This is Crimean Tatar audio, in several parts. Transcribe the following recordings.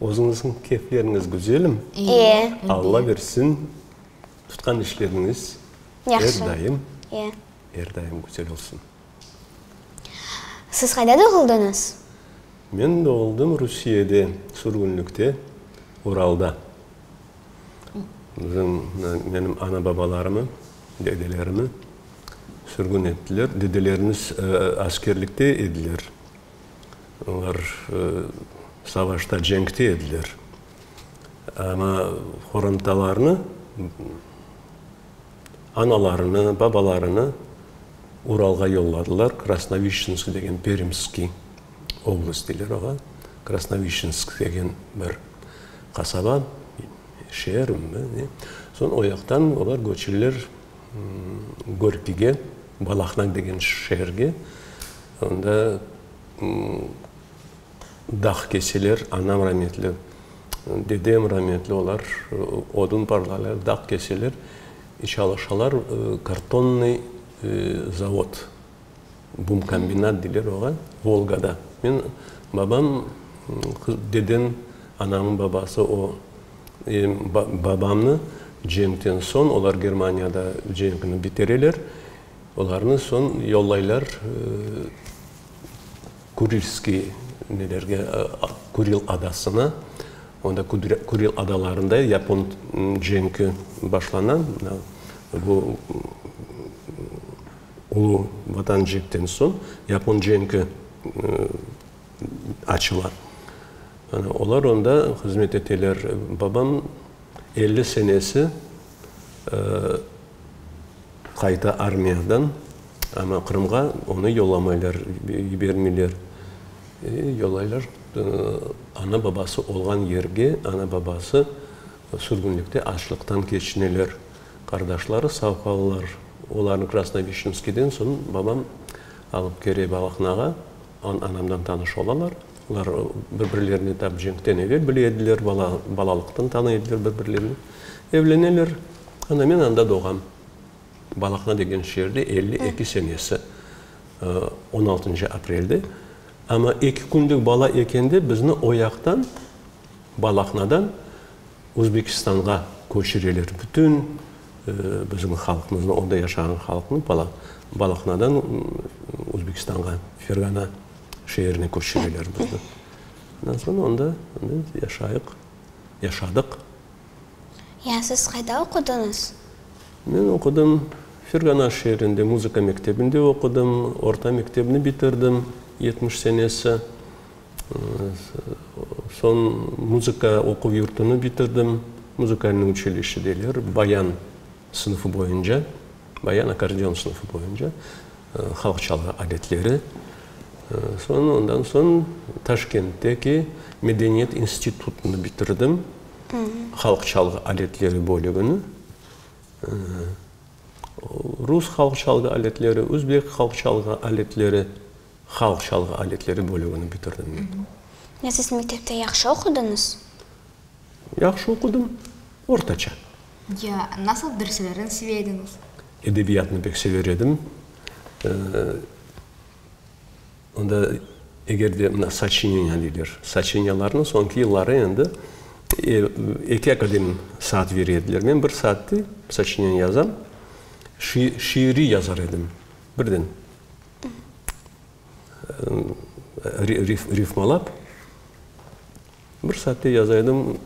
Özüñizniñ keyfleriñiz güzelim. İyi. Alla bersin, tutqan işleriñiz er daim, er daim güzel olsun. Siz qayda doğuldıñız? Men doğuldım Rusiyede, sürgünlikte, Uralda. Bizim, menim ana-babalarımı, dedelerimi sürgün ettiler. Dedelerimiz askerlikte ediler. Olar savaşta, cenkte ediler. Amma qorantalarnı, analarını, babalarını Uralğa yolladılar, Krasnovişçensk degen, Perimskiy oblast deyler oğa, Krasnovişçensk degen bir qasaba, şeer. Soñ o yaqtan olar köçeler Gorkiyge, Balahna degen şeerge. Onda dağ keseler, anam rametli, dedem rametli, olar odun parlaylar, dağ keseler, çalışalar, kartonnıy zavod, bumkombinat deyler oğa, Volgada. Men, babam, dedem, anamnıñ babası o, babamnı cenkten soñ, olar Germaniyada cenkni bitireler, Olarnı soñ yollaylar Kurilskiy nelerge, Kuril adasına. Onda Kuril adalarında yapon cenki başlana. Bu ulu Vatan cenkten soñ yapon cenki açıla. Olar onda hızmet eteler. Babam elli senesi Qayta armiyadan, amma Qırımğa onı yollamaylar, yibermeyler. Yollaylar ana-babası olğan yerge, ana-babası sürgünlikte açlıqtan keçineler. Qardaşları sağ qalalar. Olarnı Krasnovişinskiyden soñ babam alıp kere Balahnağa, Anamdan tanış olalar. Olar bir-birlerini tap cenkten evel bile ediler, bala, balalıqtan tanı ediler bir-birlerini. Evleneler. Ana, men anda doğam. Balaqna degen şeerde elli eki senesi, on altıncı aprelde. Amma eki künlük bala eken de bizni oyaqtan, Balahnadan Özbekistanğa köçüreler. Bütün bizim halqımıznı, onda yaşağan halqnı Balahnadan Özbekistanğa, Ferğana şeerine köçüreler bizni. Ondan soñ onda biz yaşayıq, yaşadıq. Ya siz qayda oqudıñız? Men oqudım Ferğana şeerinde, muzıka mektebinde oqudım. Orta mektebni bitirdim yetmiş senesi. Soñ muzıka oquv yurtunu bitirdim. Muzukalnıy uçilişşe deyler, bayan sınıfı boyunca, bayan akkordeon sınıfı boyunca, halq çalğı aletleri. Soñ, ondan soñ Taşkentteki medeniyet institutını bitirdim, halq çalğı aletleri bölügini. Rus halq çalğı aletleri, özbek halq çalğı aletleri. Halq çalğı aletleri bölügini bitirdim men. Ya siz mektepte yahşı oqudıñız? Yahşı oqudım, ortaça. Ya nasıl derslerin seve ediñiz? Edebiyatnı pek sever edim. Onda eger de mına soçineniya deyler, soçiniyalarnı soñki yılları endi eki akadem saat bere ediler. Men bir saatte soçineniya yazam, şiiri yazar edim. Birden rifmalap, bir saatte yazaydım.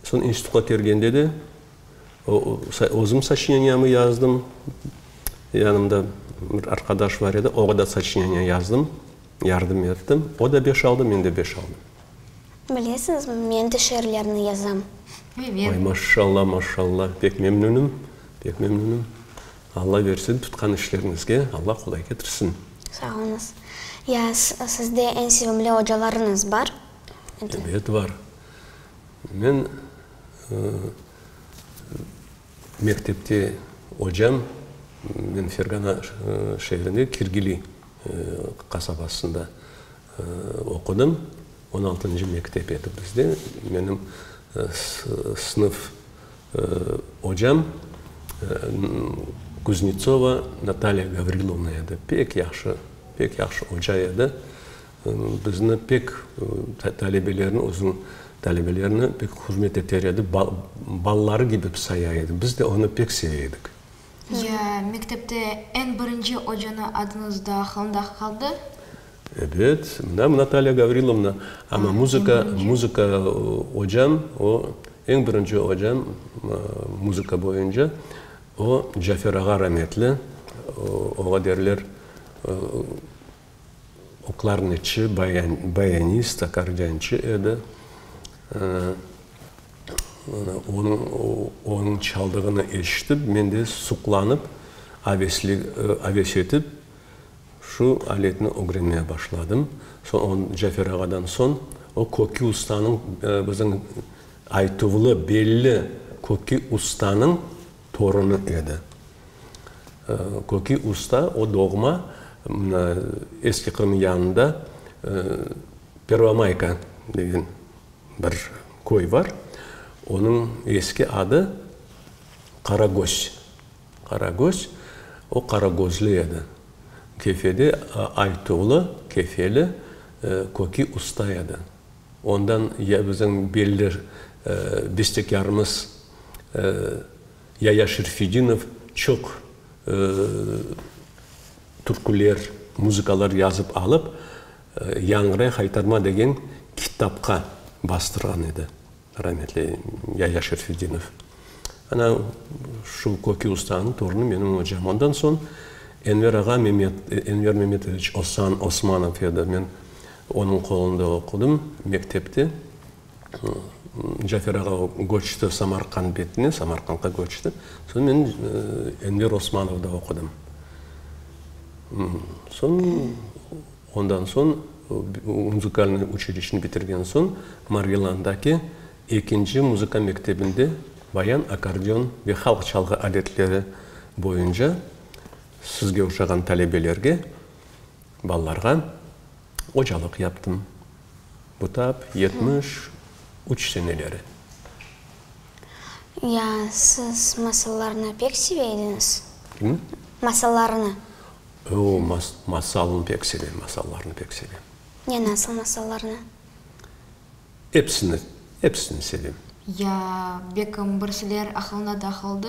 Soñ institutqa kirgende de özüm soçineniyaımı yazdım. Yanımda bir arqadaş bar edi, oña da soçineniya yazdım, yardım ettim. O da beş aldı, men de beş aldım. Bilesiñizmi, men de şiirlerni yazam. Maşallah, maşallah, pek memnünüm, pek memnünüm. Alla bersin, tutqan işleriñizge Alla qolay ketirsin. Sağ oluñız. Ya sizde eñ sevimli ocalarıñız bar? Ebet, bar. Men mektepte ocam, men Fergana şeerinde Kirgili qasabasında Oqudım, on altıncı mektep edi bizde, menim sınıf ocam Kuznetsova Natalya Gavrilovna edi, pek yahşı, pek yahşı oca edi. Bizni pek, talebelerni, özüniñ talebelerine pek hürmet eter edi, balaları kibi saya edi, biz de onı pek seve edik. Ya mektepte eñ birinci ocanı adınız da aqılında qaldı? Ebet, mına Natalya Gavrilovna. Amma muzıka, muzıka ocam, o, eñ birinci ocam, muzıka boyunca, o, Cafer ağa rametli. Oğa derler, klarnetçi, bayanist, akkordeonçı edi. Onıñ çaldığını eşitip, men de suqlanıp, aves etip, şu aletni ögrenmeye başladım. Cafer ağadan soñ o kökki ustanıñ, bizim aytuvlı, belli kökki ustanıñ Torunı edi. Köki usta, o doğma Eski Qırım yanında Pervomayka degen bir köy var. Onıñ eski adı Qaragöz. Qaragöz, o Qaragözlü edi. Kefede Aytuğlı, Kefeli, köki usta edi. Ondan ya bizim belli bestekârımız Yaya Şerfedinov çoq türküler, muzıkalar yazıp alıp, Yañğıray haytarma degen kitapqa bastırğan edi, rametli Yaya Şerfedinov. Ana, şu köki ustanıñ torunı menim ocam. Ondan soñ Enver ağa Memet, Enver Memetoviç Osan, Osmanov edi. Men onıñ qolunda oqudım mektepte. Cafer ağa köçti Samarqand betine, Samarqandğa köçti. Soñ men Enver Osmanovda oqudım. Soñ, ondan soñ, muzikalnıy uçilişni bitirgen soñ, Margilandaki Ekinci muzıka mektebinde bayan akkordeon ve halq çalğı adetleri boyunca sizge oşağan talebelerge, balalarğa ocalıq yaptım. Bu taap yetmiş üç seneleri. Ya, siz masallarnı pek seve ediñiz? Kimni? Masallarnı. Oo, mas, masalnı pek sevem, masallarnı pek sevem. Ne, nasıl masallarnı? Epsini, epsini sevem. Ya, bekim, birsiler aqılına da qaldı?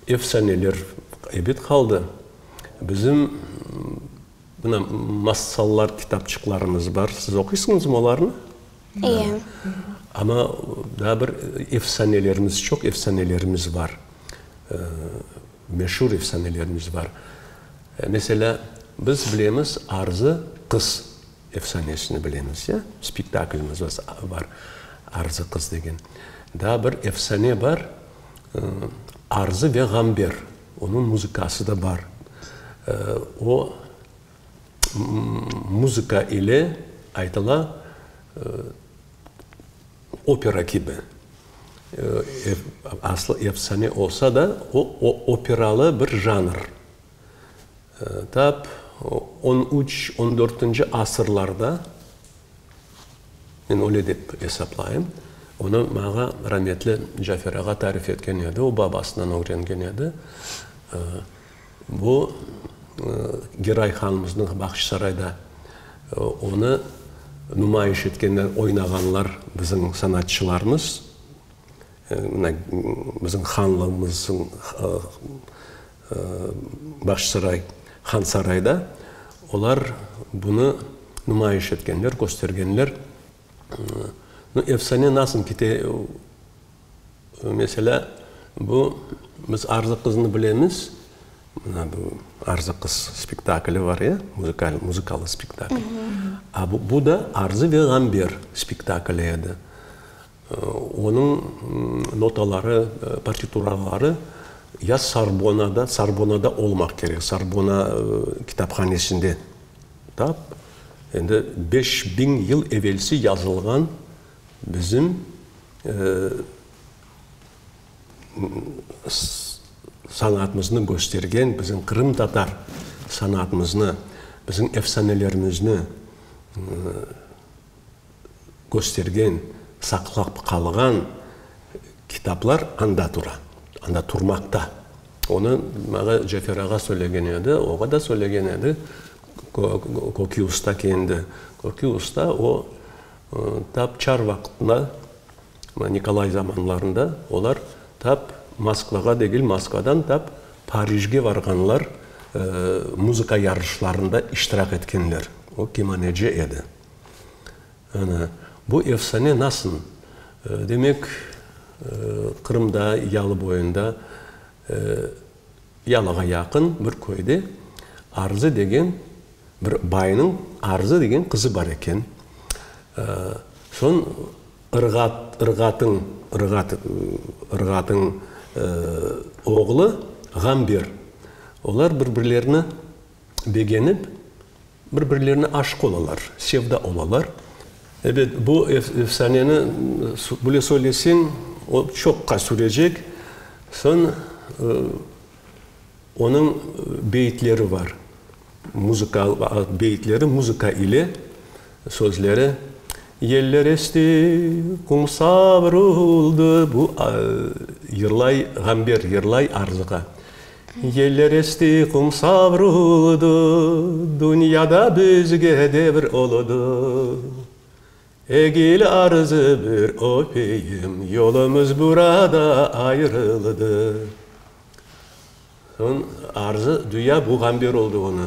Efsaneler, ebet, qaldı. Bizim mına masallar kitapçıqlarımız bar. Siz oquysıñızmı olarnı? İye. Amma daa bir efsanelerimiz, çoq efsanelerimiz bar. Meşur efsanelerimiz bar. Meselâ, biz bilemiz, Arzı qız. Efsanesini bilemiz, ya? Spektaklimiz bar, Arzı qız degen. Daa bir efsane bar, Arzı ve Ğamber. Onıñ muzıkası da bar. O muzıka ile aytıla, opera kibi. Aslı efsane olsa da, o operalı bir janr. Tap on üç, on dörtünci asırlarda, men öyle dep esaplayım, onı maña rametli Cafer ağa tarif etken edi, o babasından ögrengen edi, bu Giray hanımıznıñ Bahçısarayda onı numayış etkenler, oynağanlar bizim sanatçılarımız, bizim hanlığımızın, Başsaray, Hansarayda olar bunı numayış etkenler, köstergenler. Nu, efsane nasıl kite, meselâ, bu, biz Arzı qıznı bilemiz, mına bu Arzı qız spektakli bar ya, muzıkal, muzıkalı spektakl. A bu, bu da Arzı ve Gamber spektakli edi. Onıñ notaları, partituraları ya Sorbonada, Sorbonada olmaq kerek, Sorbona kitaphanesinde tap, endi beş biñ yıl evelsi yazılğan bizim sanatımıznı köstergen, bizim qırımtatar sanatımıznı, bizim efsanelerimizni, köstergen, saqlap qalğan kitaplar anda tura, anda turmaqta. Onı maña Cefer ağa söylegen edi, oğa da söylegen edi, Köki usta kendi. Köki usta o, tap çar vaqıtında, Nikolay zamanlarında olar tap Moskvağa degil, Moskvadan tap Parijge barğanlar, muzıka yarışlarında iştirak etkenler. O kemaneci edi. Ana, bu efsane nasıl? Demek, Qırımda, Yalıboyunda, Yalığa yaqın bir köyde Arzı degen bir baynıñ Arzı degen qızı bar eken. Soñ Irğat, Irğatın, Irğat, Irğatın oğlu Ğamber, olar bir-birlerini, begenip, bir-birlerine aşıq olalar, sevda olalar. Ebet, bu efsaneni böyle söyleseñ, o çoqqa sürecek. Soñ onıñ beyitleri var, muzıka, beyitleri muzıka ile. Sözleri, Yeller eşti, qum savruldı, bu, yırlay, ğamber, yırlay arzıqa. Yeller eşti, qum savruldı, dünyada bizge devr oludı. Egil arzı bir öpeyim, yolumız burada ayırıldı. Soñ, arzı, düya, bu, ğamber oldı ona.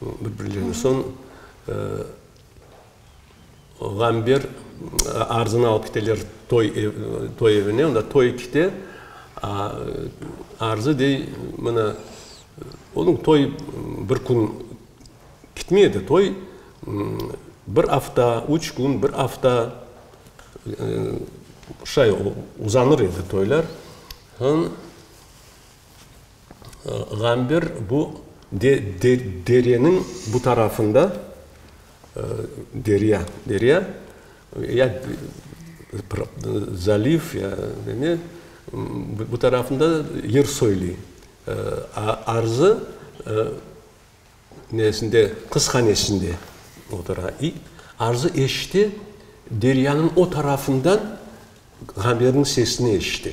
Bir-birlerine soñ ğamber arzını alıp keteler toy toy evine. Onda toy kete. Arzı dey, mana, onıñ toy bir kün ketmey edi. Toy bir afta, üç kün, bir afta şay uzanır edi toylar. Soñ Ğamber bu dereniñ bu tarafında, derya, derya, ya zaliv, ya ne, bu tarafında yer soyli. Arzı nesinde, qızhanesinde otura. İ arzı eşite, deryanıñ o tarafından Ğamberniñ sesini eşite.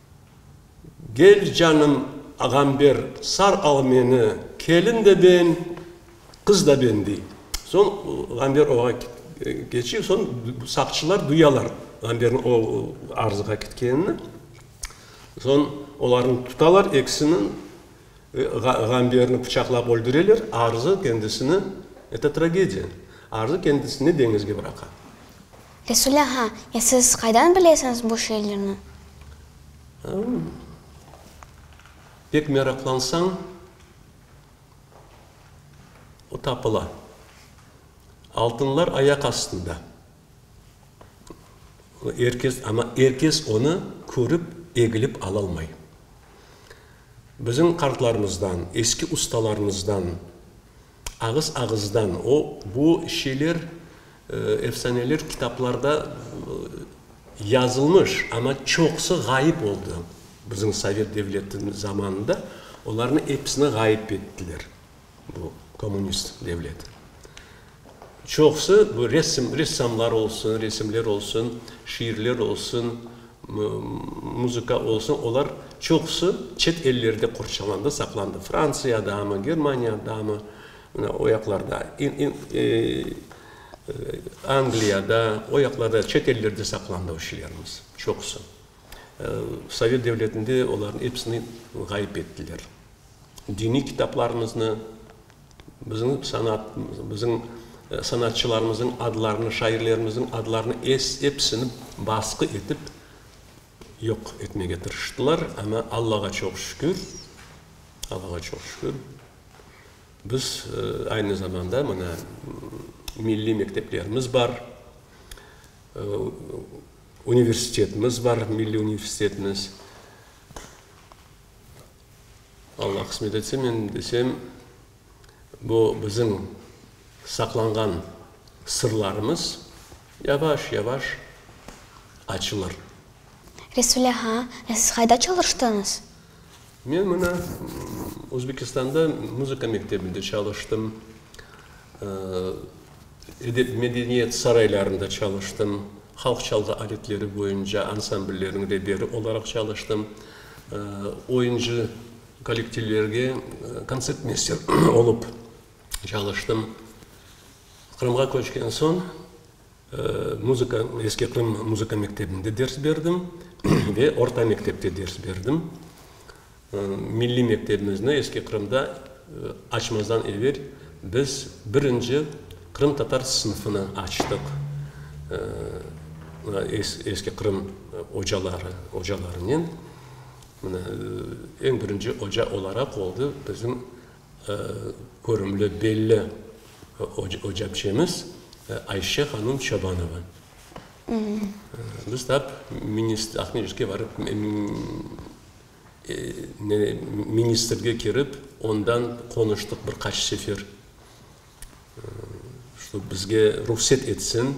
Gel canım ağam ber sar al meni, kelin de ben, qız da ben, dey. Soñ Ğamber oğa keçiv, soñ saqçılar duyalar Ğamberniñ o arzığa ketkenini. Soñ olarnı tutalar ekisini, Ğamberni pıçaqlap öldüreler, arzı kendisini, eto tragediya, arzı kendisini deñizge bıraqa. Resulâ, ha, e siz qaydan bilesiñiz bu şeylerni? Aa, pek meraqlansañ, o tapıla. Altınlar ayaq astında. Er kes, amma er kes onı körip, egilip alalmay. Bizim qartlarımızdan, eski ustalarımızdan Ağız-ağızdan o, bu şeyler, efsaneler kitaplarda yazılmış, amma çoqusı ğayıp oldı. Bizim Sovet devleti zamanında olarnı episini ğayıp ettiler, bu kommunist devlet. Çoqusı, bu resim, ressamlar olsun, resimler olsun, şiirler olsun, Muzıka olsa, olar çoqusı çet ellerde qorçalandı, saqlandı, Fransiyadamı, Germaniyadamı, mına o yaqlarda, Angliyada, o yaqlarda, çet ellerde saqlandı o şiirlerimiz çoqusı. Sovet devletinde olarnıñ epsini ğayıp ettiler. Diniy kitaplarımıznı, Bizim sanat, bizim sanatçılarımızıñ adlarını, şairlerimizniñ adlarını episini basqı etip yoq etmege tırıştılar, amma Allağa çoq şükür, Allağa çoq şükür, biz aynı zamanda mına milliy mekteplerimiz bar, universitetimiz bar, milliy universitetimiz. Alla qısmet etse, men desem, bu bizim saqlanğan sırlarımız yavaş-yavaş açılır. Resule, ha, e siz qayda çalıştıñız? Men mına Özbekistanda muzıka mektebinde çalıştım. Edep-medeniyet saraylarında çalıştım. Halq çalğı aletleri boyunca ansambllerniñ reberi olaraq çalıştım. Oyuncı kollektivlerge kontsertmeyster olıp çalıştım. Qırımğa köçken soñ muzıka, Eski Qırım muzıka mektebinde ders berdim ve orta mektepte ders berdim. Milliy mektebimizni eski Qırımda açmazdan evel biz birinci qırımtatar sınıfını açtıq. Eski Qırım ocaları, ocalarınen eñ birinci oca olaraq oldı bizim körümli, belli oca biçemiz Ayşe hanım Çobanova. Biz tap Aqmescitke barıp, ministrge kirip, ondan qonuştıq bir qaç sefer, şto bizge ruhset etsin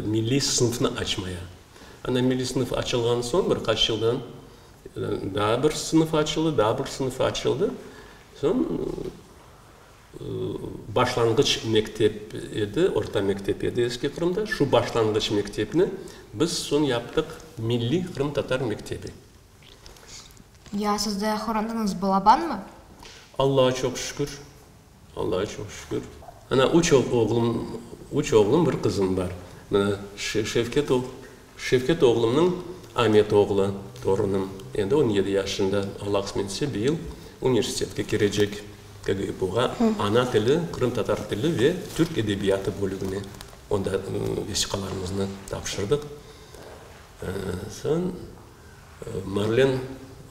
milliy sınıfnı açmaya. Ana milliy sınıf açılğan soñ bir qaç yıldan daa bir sınıf açıldı, daa bir sınıf açıldı. Soñ Başlanğıç mektep edi, orta mektep edi Eski Qırımda. Şu başlanğıç mektepni biz soñ yaptıq milliy qırımtatar mektebi. Ya siz de öğrendiñiz balabanmı? Allağa çoq şükür, Allağa çoq şükür. Ana üç oğlum, üç oğlum, bir qızım bar. Şevket ol, Şevket oğlumnıñ Amet oğlu, torunım, endi on yedi yaşında, Alla qısmet etse, bu yıl universitetke kirecek, KGIPUğa, ana tili, qırımtatar tili ve türk edebiyatı bölügine. Onda vesiqalarımıznı tapşırdıq. Soñ Marlen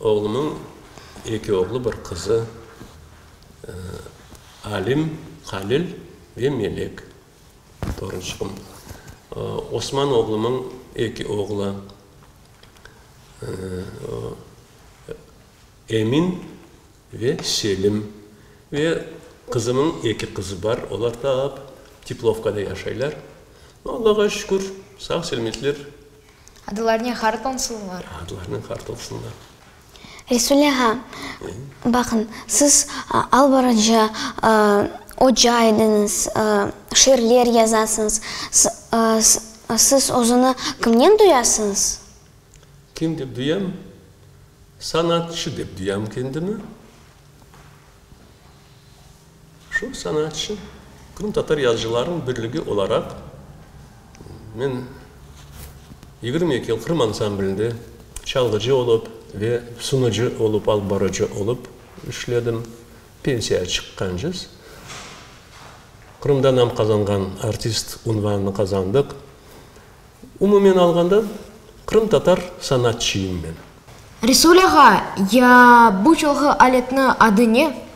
oğlumnıñ eki oğlu, bir qızı, Alim, Halil ve Melek. Torunçıqım Osman oğlumıñ eki oğlu Emin ve Selim ve qızımıñ eki qızı bar, olar tap Teplovkada yaşaylar. Allağa şükür, sağ-selmetler. Adılarnen hart olsunlar. Adılarnen hart olsunlar. Resul ağa, baqıñ, siz albarıcı, oca ediñiz, şiirler yazasıñız. Siz özüni kimnen duyasıñız? Kim dep duyam? Sanatçı dep duyam kendimi. Şu sanatçı, qırımtatar yazıcılarınıñ birligi olaraq, men yigirmi eki yıl Qırım ansamblinde çalğıcı olıp ve sunucı olıp, alıp barıcı olıp işledim. Pensiyaya çıqqancız, Qırımda nam qazanğan artist unvanını qazandıq. Umumen alğanda, qırımtatar sanatçıyım men. Resul ağa, ya bu çalğı aletni adı ne?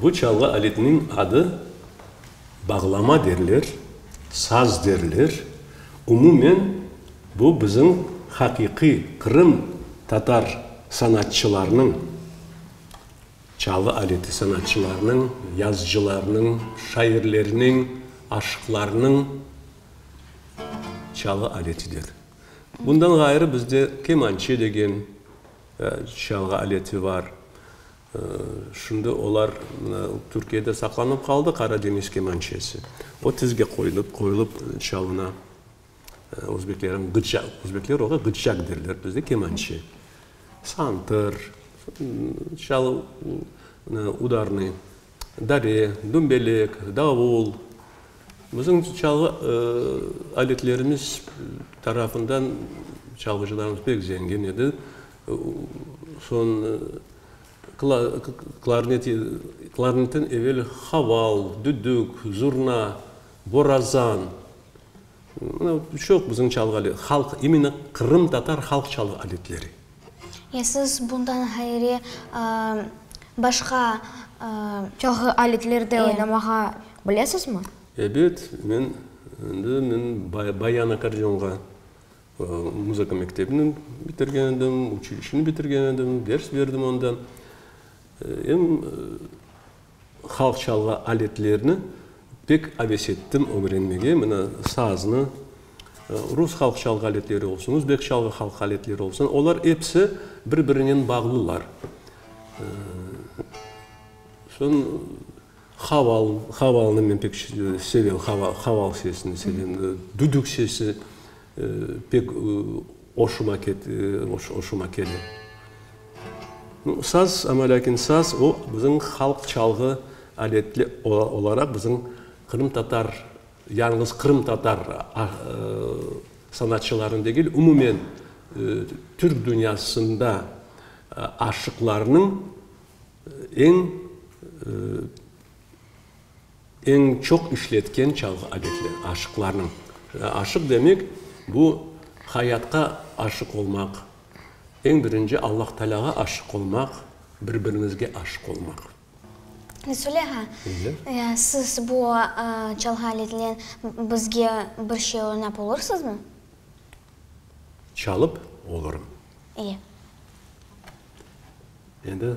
Bu çalğı aletiniñ adı bağlama derler, saz derler. Umumen, bu bizim haqiqiy Qırım tatar sanatçılarnıñ çalğı aleti, sanatçılarnıñ, yazıcılarnıñ, şairlerniñ, aşıqlarnıñ. Çalğı aletidir. Bundan ğayrı bizde kemançe degen çalğı aleti bar. Şimdi olar Türkiyede saqlanıp qaldı, Qaradeñiz kemançesi. O tizge qoyulıp, qoyulıp çalına. Özbeklerniñ gıçça, özbekler oğa gıççak derler, bizde kemançe. Santır, çalı, udarnıy. Dare, dümbelek, davul, bizim çalğı aletlerimiz tarafından çalğıcılarımız pek zengin edi. Soñ klarnet, klarnetten evel haval, düdük, zurna, borazan, çoq bizim çalğı aletleri, halq, iminı qırımtatar halq çalğı aletleri. Ya siz bundan ğayri başqa çalğı aletlerde oynamağa bilesizmi? Ebet, men endi men bayan akkordeonğa muzıka mektebini bitirgen edim, uçilişeni bitirgen edim, ders berdim onda. Em Halq çalğı aletlerini pek aves ettim ögrenmege. Mına, saznı, rus halq çalğı aletleri olsun, özbek çalğı halq aletleri olsun, olar episi bir-birinen bağlılar. Soñ, haval, havalnı men pek sevem, haval, haval sesini sevem, düdük sesi Pek oşuma oşuma kele. Saz, amma lâkin saz, o, bizim halq çalğı aletli olaraq bizim qırımtatar, yalıñız qırımtatar sanatçılarını degil, umumen Türk dünyasında aşıqlarnıñ eñ Eñ çoq işletken çalğı adetler, aşıqlarnıñ. Aşıq demek, bu hayatqa aşıq olmaq, eñ birinci Allahtaalâğa aşıq olmaq, bir-biriñizge aşıq olmaq. Söyle ağa, siz bu çalğı aletinen bizge bir şey oynap olursızmı? Çalıp olurım. İyi. Endi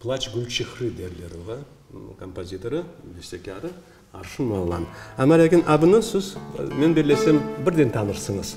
Plaç gül çihri derler oña. Kompozitorı, bestekârı, Arşın Moğlan. Amma lâkin adını siz men bellesem birden tanırsıñız.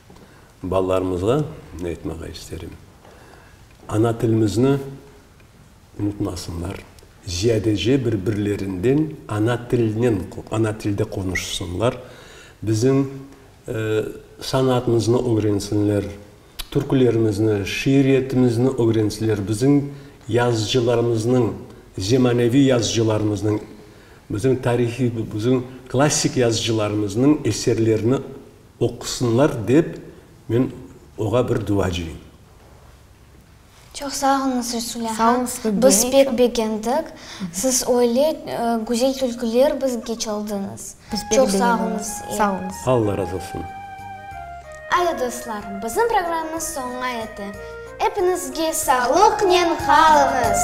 Balalarımızğa aytmağa isterim, ana tilimizni unutmasınlar, ziyadece bir-birlerinden ana tilinen, ana tilde qonuşsınlar, bizim sanatımıznı ögrensinler, türkülerimizni, şiiriyetimizni ögrensinler, bizim yazıcılarımıznıñ, zemaneviy yazıcılarımıznıñ, bizim tarihiy, bizim klassik yazıcılarımıznıñ eserlerini Oqusınlar dep men oğa bir duacıyım. Çoq sağ olunız, Resulâ han, biz pek begendik, siz öyle güzel tülküler bizge çaldıñız. Çoq sağ olunız. Sağ olunız. Alla razı olsun. Adı dostlar, bizim programımız soña yeti. Epiñizge sağlıqnen qalıñız!